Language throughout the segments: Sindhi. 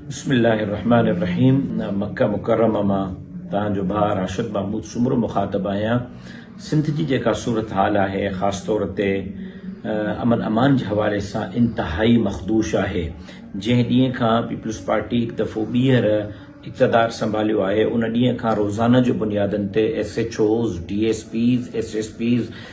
بسم الله الرحمٰن الرحيم مڪه مڪرمه مان توهان جو ڀاء راشد محمود سومرو مخاطب آهيان سنڌ جي جيڪا صورتحال آهي خاص طور تي امن امان جي حوالي سان انتهائي مخدوش آهي جنهن ڏينهن کان پيپلز پارٽي هڪ دفعو ٻيهر اقتدار سنڀاليو آهي ان ڏينهن کان روزانه جي بنيادن تي S H Os D S Ps S S Ps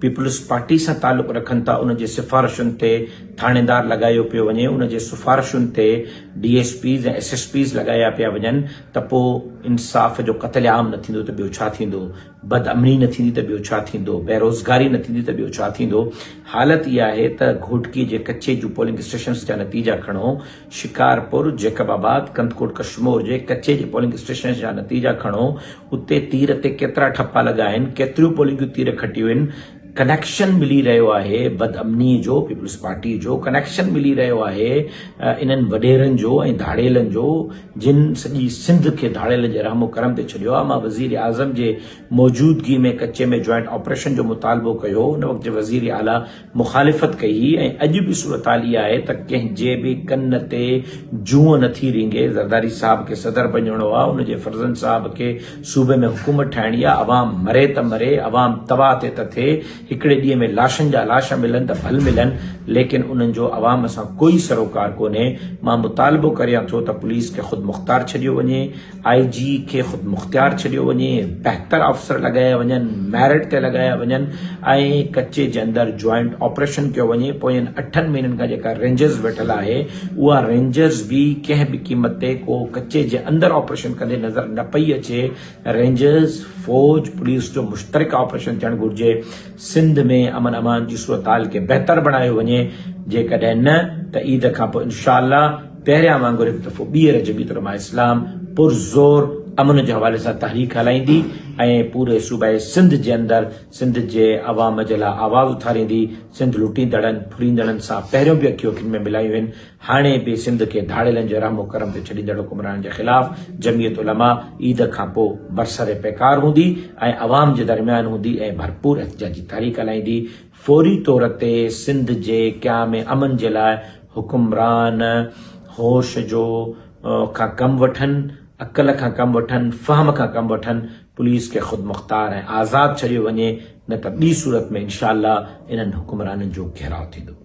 peoples party سان تعلق رکن ٿا ان جي سفارشن تي ٿاڻيدار لڳايو پيو وڃي ان جي سفارشن تي D S Ps ۽ S S Ps لڳايا پيا وڃن ته پو انصاف جو قتل عام نه ٿيندو ته ٻيو ڇا ٿيندو بد امني نه ٿيندي ته ٻيو ڇا ٿيندو بيروزگاري نه ٿيندي ته ٻيو ڇا ٿيندو حالت اها آهي ته گهوٽڪي جي ڪچي جون پولنگ اسٽيشنز جا نتيجا کڻو شڪارپور، جيڪب آباد، ڪنڌڪوٽ ڪشمور جي ڪچي جي پولنگ اسٽيشنز جا نتيجا کڻو، اتي تير تي ڪيترا ٺپا لڳا آهن، ڪيتريون پولنگيون تير کٽيون آهن، ڪنيڪشن ملي رهيو آهي بدامنيء جو، پيپلز پارٽيء جو ڪنيڪشن ملي رهيو آهي انهن وڏيرن جو ۽ ڌاڙيلن جو جن سڄي سنڌ کي ڌاڙيلن جي رحم و ڪرم تي ڇڏيو آهي، مان وزيراعظم جي موجودگي ۾ ڪچي ۾ جوائنٽ آپريشن جو مطالبو ڪيو هو، ان وقت جي وزير اعليٰ مخالفت ڪئي هئي ۽ اڄ به صورتحال اها آهي ته ڪنهن جي به ڪن تي جونء نه ٿي رينگهي، زرداري صاحب کي صدر بنجڻو آ، ان جي فرزند صاحب کي صوبي ۾ حڪومت ٺاهڻي آ، عوام مري ته مري، عوام تباهه ٿئي ته ٿئي، هڪڙي ڏينهن ۾ لاشن جا لاش ملن ته ڀل ملن، ليڪن انهن جو عوام سان ڪوئي سروڪار ڪونهي، مان مطالبو ڪريان ٿو ته پوليس کي خودمختار ڇڏيو وڃي، آء جي کي خودمختيار ڇڏيو وڃي، بهتر آفيسر لڳايا وڃن، ميرٽ تي لڳايا وڃن ۽ ڪچي جي اندر جوائنٽ آپريشن ڪيو وڃي، پوين اٺن مهينن کان جيڪا رينجرز ويٺل آهي اها رينجرز به ڪنهن به قيمت تي ڪو ڪچي جي اندر آپريشن ڪندي نظر نه پئي اچي، رينجرز، فوج، پوليس جو مشترڪه آپريشن ٿيڻ گهرجي. سنڌ ۾ امن امان جي صورتحال کي بهتر بڻايو وڃي جيڪڏهن نه ته عيد کان پوء انشاء الله پهريان وانگر هڪ دفعو ٻيهر جميعت علماء اسلام پرزور امن جي حوالي سان تحريڪ هلائيندي ۽ پوري صوبه سنڌ جي اندر سنڌ جي عوام جي لاء آواز اٿاريندي سنڌ لٽيندڙن ڦريندڙن سان پهريون به اکيون اکين ۾ ملايون هن هاڻي به سنڌ کي ڌاڙيلن جي رحم و ڪرم تي ڇڏيندڙ حڪمرانن جي خلاف جمعيت علماء عيد کان پوء برسر پيڪار هوندي ۽ عوام جي درميان هوندي ۽ ڀرپور احتجاجي تحريڪ هلائيندي فوري طور تي سنڌ جي قيام امن جي لاء حڪمران هوش جو کان ڪم وٺن عقل کان ڪم وٺن فهم کان ڪم وٺن پوليس کي خودمختار ۽ آزاد ڇڏيو وڃي نه ته ٻي صورت ۾ انشاء الله انهن حڪمرانن جو گهيراء ٿيندو.